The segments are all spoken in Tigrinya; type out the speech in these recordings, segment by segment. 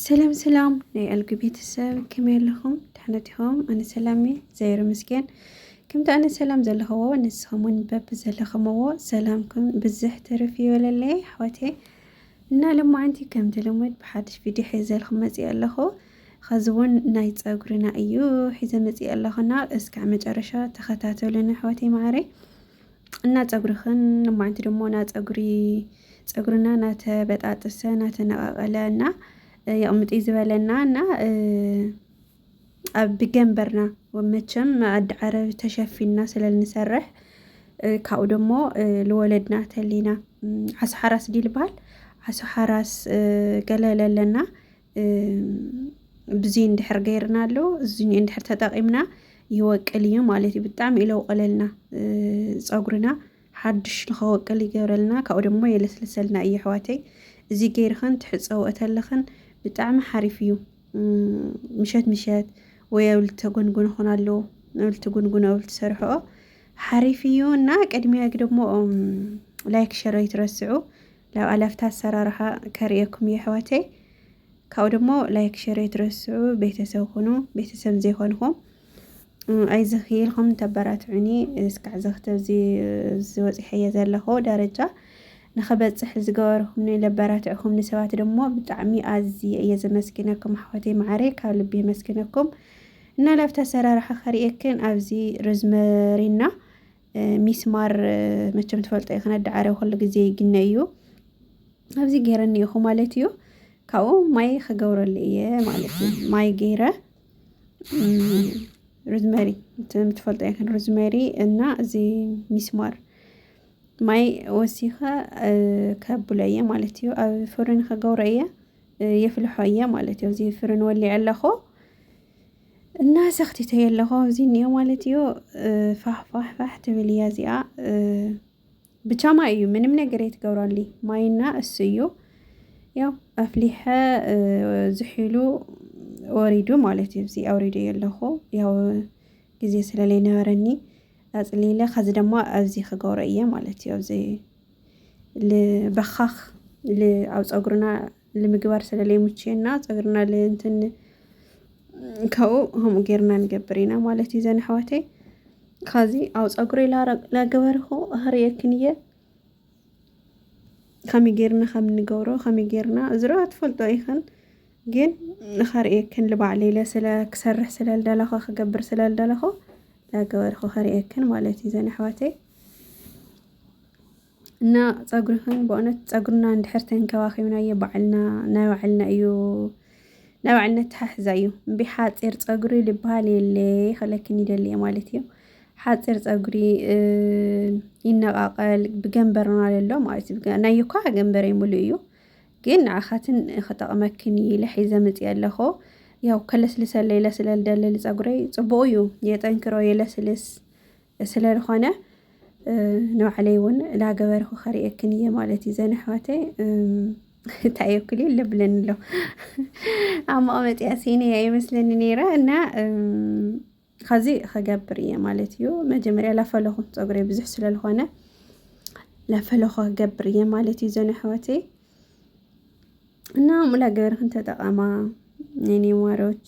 ሰላም ሰላም ናይ ኣልጊ ቤተሰብ ከመይ ኣለኹም ድሕነት ኢኹም ኣነ ሰላም እየ ዘይር ምስገን ከምቲ ኣነ ሰላም ዘለኽዎ ንስኹም እውን በቢ ዘለኽምዎ ሰላምኩም ብዝሕ ትርፍ ይበለለይ ኣሕዋቴ እና ለማዓንቲ ከምቲ ልሙድ ብሓድሽ ቪድዮ ሒዘልኩም መፅእ ኣለኹ ኸዚ እውን ናይ ፀጉርና እዩ ሒዘ መፅእ ኣለኹና እስካዕ መጨረሻ ተኸታተሉን ኣሕዋቴ ማዕረይ እና ፀጉርኽን ማንቲ ደሞ ና ፀጉሪ ፀጉርና ናተበጣጠሰ ናተነቃቀለ እና የቕምጢ ዝበለና እና ኣብ ብገንበርና መቸም ኣዲ ዓረብ ተሸፊንና ስለንሰርሕ ካብኡ ደሞ ልወለድና ተሊና ዓሳ ሓራስ ድዩ ልበሃል ዓሳ ሓራስ ገለ ለለና ብዙይ እንድሕር ገይርናሉ እዙይ እንድሕር ተጠቒምና ይወቅል እዩ ማለት እዩ። ብጣዕሚ እዩ ለውቀለልና ፀጉርና ሓዱሽ ንኸወቅል ይገብረልና ካብኡ ድማ የለስልሰልና እዩ ኣሕዋተይ። እዚ ገይርኸን ትሕፀው እተለኽን ብጣዕሚ ሓሪፍ እዩ። ምሸት ምሸት ወይ ኣብ ልተጎንጉን ኾን ኣሎ ኣብ ልትጉንጉን ኣብ ልትሰርሕኦ ሓሪፍ እዩ እና ቅድሚያ ደግሞ ላይክ ሸር ኣይትረስዑ። ላብ ኣላፍታ ኣሰራርሓ ከርእየኩም እየ ኣሕዋተይ ካብኡ ደሞ ላይክ ሸር ኣይትረስዑ ቤተሰብ ኩኑ ቤተሰብ ዘይኮንኹም ኣይዝኺ ኢልኩም ተበራትዑኒ እስካዕ ዘኽተዚ ዝወፂሐየ ዘለኹ ደረጃ ንክበፅሕ ዝገበርኹም ለበራትዕኹም ንሰባት ደሞ ብጣዕሚ ኣዝየ እየ ዘመስግነኩም ኣሕዋተይ መዓረይ ካብ ልቢ የመስግነኩም እና ላብቲ ኣሰራርሓ ከርእየክን ኣብዚ ሮዝመሪና ሚስማር መቸም ትፈልጦ ኢኺ ነዳዕረ ኩሉ ግዜ ይግነ እዩ ኣብዚ ገይረኒ ኢኹ ማለት እዩ ካብኡ ማይ ክገብረሉ እየ ማለት እዩ ማይ ገይረ ሩዝመሪ ትፈልጦ ይኽን ሩዝመሪ እና እዚ ሚስማር ማይ ወሲኸ ከብሎ እየ ማለት እዩ ኣብ ፍርን ክገብሮ እየ የፍልሖ እየ ማለት እዩ እዚ ፍርን ወሊዐ ኣለኹ እና ሰኽቲተዮ ኣለኹ ኣብዚ እኒኦ ማለት እዩ ፋሕፋሕፋሕ ትብል እያ እዚኣ ብቻ ማይ እዩ ምንም ነገር የትገብራሉ ማይና እሱ እዩ ያው ኣፍሊሐ ዝሒሉ ወሪዱ ማለት እዩ እዚ ኣውሪደ ኣለኹ ያው ግዜ ስለለይ ነበረኒ ኣፅሊለ ከዚ ድማ ኣብዚ ክገብሮ እየ ማለት እዩ ኣብዚ በኻኽ ኣብ ፀጉርና ንምግባር ስለለይምችየና ፀጉርና ልእንትን ካብኡ ከምኡ ጌርና ንገብር ኢና ማለት እዩ ዘን ኣሕዋተይ ካዚ ኣብ ፀጉሪ ላገበርኩ ኣኽርየክን እየ ከመይ ጌርና ከም ንገብሮ ከመይ ጌርና እዝሮ ትፈልጦ ኢኽን ግን ንኸርእየክን ልባዕለ ኢለ ስለ ክሰርሕ ስለ ልደለኹ ክገብር ስለ ልደለኹ ላገበርኩ ከርእየክን ማለት እዩ ዘን ኣሕዋተይ እና ፀጉርክን በእውነት ፀጉርና እንድሕር ተንከባኺብናዮ ባዕልና ናይ ባዕልና እዩ ናይ ባዕልና ተሓሕዛ እዩ እምቢ ሓፂር ፀጉሪ ልበሃል የለ ክለክን ይደሊ እየ ማለት እዩ ሓፂር ፀጉሪ እ፣ ይነቃቀል ብገንበርና ለሎ ማለት እዩ ብገ- ናይ እኳ ገንበረ ሙሉ እዩ ግን ንዓኻትን ክጠቕመክን እዩ ኢለ ሒዘ መፅየ ኣለኹ ያው ከለስልሰለይ ለስለል ደልል ፀጉረይ ፅቡቅ እዩ የጠንክሮ የለስልስ ስለልኾነ ንባዕለይ ውን ላገበርኹ ከርእየክን እየ ማለት እዩ ዘን ኣሕዋተይ እንታይ እየ ኩል ልብለኒ ኣሎ ኣብ መቐመጢያ ሲነ እያ ይመስለኒ ነይረ እና ከዚ ክገብር እየ ማለት እዩ መጀመርያ ላፈለኹ ፀጉሪ ብዙሕ ስለልኾነ ላፈለኹ ክገብር እየ ማለት እዩ ዘን ኣሕዋተይ እና ሙላ ገበርክን ተጠቐማ የኔ ማሮች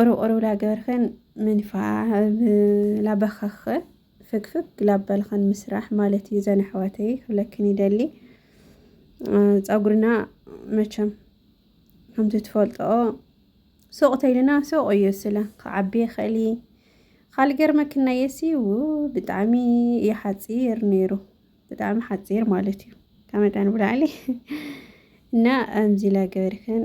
ኦሮብ ላገበርኸን ምንፋዓ ላበኸኸ ፍግፍግ ላበልኸን ምስራሕ ማለት እዩ ዘን ኣሕዋተይ ክብለክን ይደሊ ፀጉርና መቸም ከምቲ ትፈልጦኦ ሱቕ ተይልና ሱቕ እዩ ስለ ክዓቢ ይኽእል እዩ ካልእ ገርመክን ናየሲ ብጣዕሚ እዩ ሓፂር ነይሩ ብጣዕሚ ሓፂር ማለት እዩ ካብ መጠን ብላዕሊ እና ኣምዚ ላገበርኸን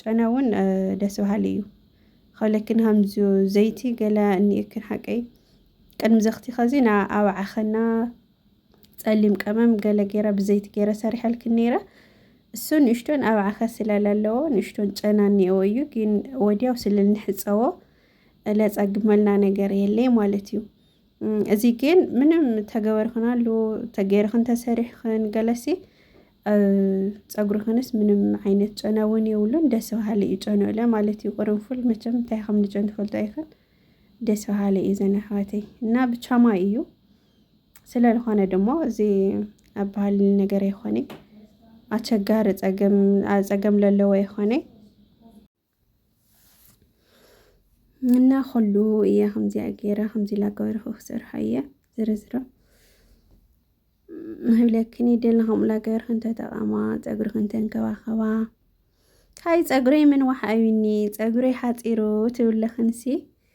ጨና እውን ደስ በሃሊ እዩ ኸለክን ሃምዙ ዘይቲ ገለ እኒእክን ሓቀይ ቅድሚ ዘኽቲ ኸዚ ና ኣብ ዓኸና ጸሊም ቀመም ገለ ገይረ ብዘይቲ ገይረ ሰሪሐልክን ነይረ እሱ ንእሽቶን ኣብ ዓኸ ስላለለዎ ንእሽቶን ጨና እኒኦ እዩ ግን ወዲያው ስለ ንሕፀዎ ለጸግመልና ነገር የለይ ማለት እዩ እዚ ግን ምንም ተገበርኽን ኣሉ ተገይርኽን ተሰሪሕኽን ገለሲ ፀጉርኽንስ ምንም ዓይነት ጨና እውን የብሉን ደስ በሃሊ እዩ ጨንኡ ኢለ ማለት እዩ ቅርንፉል መቸም እንታይ ከም ንጨን ትፈልጦ ኣይኽን ደስ በሃሊ እዩ ዘን ኣሕዋተይ እና ብቻማ እዩ ስለ ዝኾነ ድማ እዚ ኣብ ባህል ነገር ኣይኾነ ኣቸጋሪ ፀገም ፀገም ለለዎ ኣይኾነ እና ኩሉ እየ ከምዚኣ ገይረ ከምዚ ኢላ ገበርኩ ክሰርሖ እየ ዝርዝሮ ንህብለክን ይደሊ ከምኡ ኢላ ገበርክን ተጠቐማ ፀጉርክን ተንከባኸባ ካይ ፀጉረይ ምን ዋሓ እዩኒ ፀጉረይ ሓፂሩ ትብለኽንሲ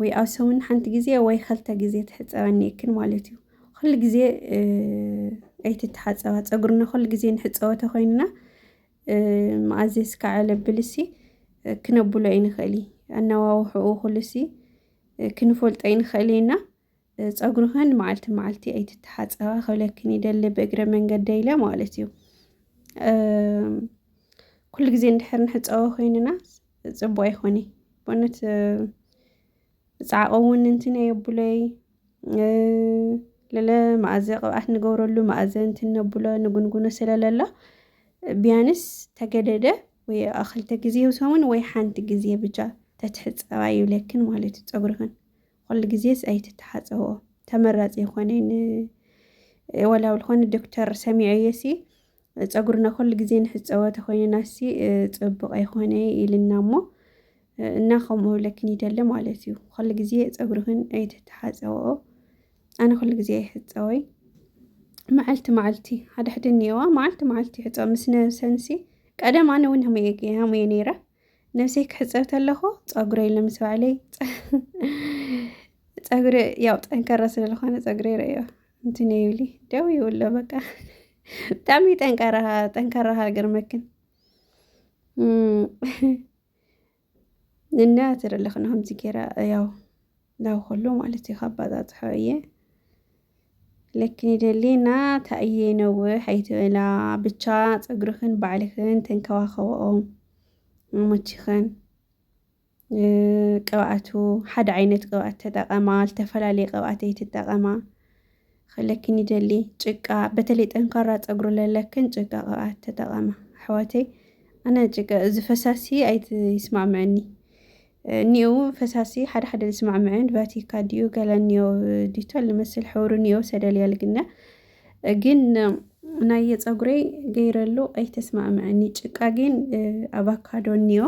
ወይ ኣብ ሰሙን ሓንቲ ግዜ ወይ ኸልተ ግዜ ትሕፀበኒ እክን ማለት እዩ ኩሉ ግዜ ኣይትተሓፀባ ፀጉርና ኩሉ ግዜ ንሕፀቦ ተኾይንና መኣዘስ ከዓለ ብልሲ ክነብሎ ኣይንኽእል ኣነዋውሕኡ ኩልሲ ክንፈልጦ ኣይንኽእል ኢና። ጸጉርኽን መዓልቲ መዓልቲ ኣይትተሓጸባ ክብለክን ይደሊ ብእግረ መንገደ ኢለ ማለት እዩ ኩሉ ግዜ እንድሕር ንሕፀቦ ኮይንና ፅቡቅ ኣይኮነ በእውነት ብፃዕቆ እውን እንትን የብለይ ለለ መኣዘ ቅብኣት ንገብረሉ መኣዘ እንትን ነብሎ ንጉንጉኖ ስለለሎ ቢያንስ ተገደደ ወይ ክልተ ግዜ ሰሙን ወይ ሓንቲ ግዜ ብቻ ተትሕፀባ ይብለክን ማለት እዩ ፀጉርክን ኹሉ ግዜስ ኣይትተሓጸቦ ተመራጺ ይኾነይ ን ወላ ብ ልኾነ ዶክተር ሰሚዐዮሲ ጸጉርና ኹሉ ግዜ ንሕጸቦ ተኾይንናሲ ጽቡቕ ኣይኾነይ ኢልና እሞ እና ከምኡ ክብለክን ይደሊ ማለት እዩ ኹሉ ግዜ ጸጉርኽን ኣይትተሓጸብኦ ኣነ ኹሉ ግዜ ኣይሕጸወይ መዓልቲ መዓልቲ ሓድሕዲ እኒኦዋ መዓልቲ መዓልቲ ይሕጸብ ምስ ነብሰንሲ ቀደም ኣነ እውን ሃሙየ ሃሙየ ነይረ ነብሰይ ክሕፀብ ተለኹ ፀጉረይ ልምስ ባዕለይ ፀጉሪ ያው ጠንከረ ስለዝኾነ ፀጉሪ ረዮ እንትን ይብሊ ደው ይብሎ በቃ ብጣዕሚ ጠንካራ ጠንካራ ሃገር መክን እና ትርልኽ ንኸምዚ ገይራ ያው ናብ ከሎ ማለት እዩ ካባፃፅሖ እየ ለክኒ ደሌና ታእዬ ነውሕ ኣይትበላ ብቻ ፀጉርኽን ባዕልኽን ተንከባኸብኦ መሞችኽን ቅብኣቱ ሓደ ዓይነት ቅብኣት ተጠቐማ ዝተፈላለየ ቅብኣት ኣይትጠቐማ ከለክን ይደሊ ጭቃ በተለይ ጠንካራ ፀጉሪ ለለክን ጭቃ ቅብኣት ተጠቐማ ኣሕዋተይ ኣነ ጭቃ እዚ ፈሳሲ ኣይትስማምዕኒ ኒዮው ፈሳሲ ሓደ ሓደ ልስማዕምዕን ቫቲካ ዲዩ ገለ ኒዮ ዲቶል ልመስል ሕብሩ ኒዮው ሰደልያ ልግነ ግን ናየ ፀጉረይ ገይረሉ ኣይተስማዕምዕኒ ጭቃ ግን ኣቫካዶ ኒዮ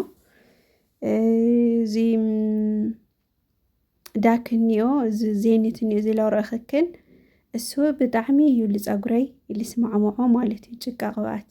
እዚ ዳክኒዮ እዚ ዜኒትኒዮ እዚ ላውሮ እኽክን እሱ ብጣዕሚ እዩ ልፀጉረይ ልስማዕምዖ ማለት እዩ ጭቃ ቅብኣት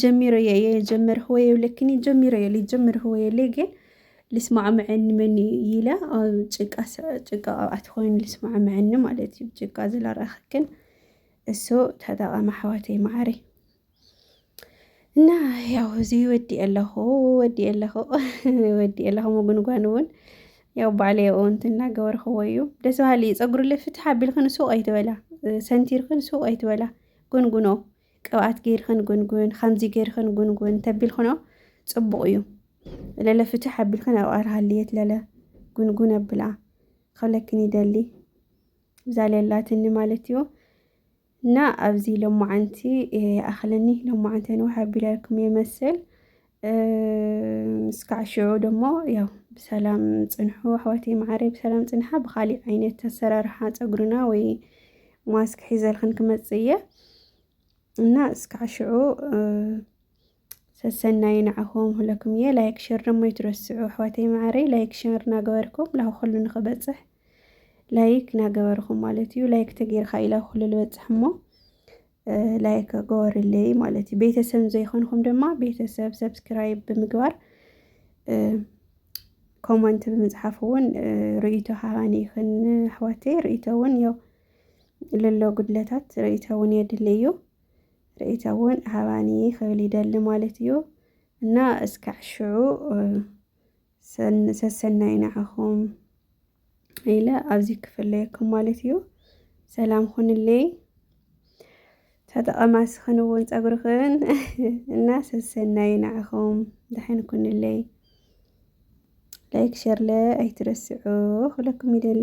ጀሚሮ እየ የጀመርህ ወይ የብለክኒ ጀሚሮ እየ ሊጀምርህ ወይ የለ ግን ልስማዕምዐኒ መን እዩ ኢለ ኣብ ጭቃ ጭቃ ኣብኣቲ ኮይኑ ልስማዕምዐኒ ማለት እዩ ጭቃ ዝለራኽክን እሱ ተጠቐመ ኣሕዋተይ ማዕረ እና ያው እዚ ወዲ ኣለኹ ወዲ ኣለኹ ወዲ ኣለኹ ምጉንጓን እውን ያው ባዕለይ ኣብኡ እንትን እናገበርኽዎ እዩ ደስ በሃሊ እዩ ፀጉሪ ልፍትሕ ኣቢልክን ሱቕ ኣይትበላ ሰንቲርክን ሱቕ ኣይትበላ ጉንጉኖ ቅብኣት ገይርኽን ጉንጉን ከምዚ ገይርኽን ጉንጉን ተቢልክኖ ጽቡቕ እዩ ለለ ፍትሕ ኣቢልክን ኣብ ኣርሃልየት ለለ ጉንጉን ኣብላ ክብለክን ይደሊ እዛ ለላትኒ ማለት እዩ እና ኣብዚ ሎማዓንቲ ይኣኽለኒ ሎማዓንቲ ንውሕ ኣቢለልኩም የመስል እስካዕ ሽዑ ደሞ ያው ብሰላም ፅንሑ ኣሕዋተይ መዓረይ ብሰላም ፅንሓ ብካሊእ ዓይነት ኣሰራርሓ ፀጉርና ወይ ማስክ ሒዘልክን ክመፅእ እየ እና እስካዕ ሽዑ ሰሰናይ ንዓኹም ሁለኩም እየ ላይክ ሸር ደሞ ይትረስዑ ኣሕዋተይ መዓረይ ላይክ ሸር እናገበርኩም ላሁ ኩሉ ንክበፅሕ ላይክ እናገበርኩም ማለት እዩ ላይክ ተገይርካ ኢላ ኩሉ ልበፅሕ እሞ ላይክ ገበሩለይ ማለት እዩ። ቤተሰብ ዘይኮንኩም ድማ ቤተሰብ ሰብስክራይብ ብምግባር ኮመንት ብምፅሓፍ እውን ርእይቶ ሃባኒ ይኽን ኣሕዋተይ ርእይቶ እውን ያው ልሎ ጉድለታት ርእይቶ እውን የድሊ እዩ ርእይቶ እውን ሃባኒ ክብል ይደሊ ማለት እዩ እና እስካዕ ሽዑ ሰሰናይ ንዓኹም ኢለ ኣብዚ ክፍለየኩም ማለት እዩ ሰላም ኹንለይ ተጠቐማ ስኽን እውን ፀጉርኽን እና ሰሰናይ ንዓኹም ድሕን ኩንለይ ላይክ ሸርለ ኣይትረስዑ ክለኩም ይደሊ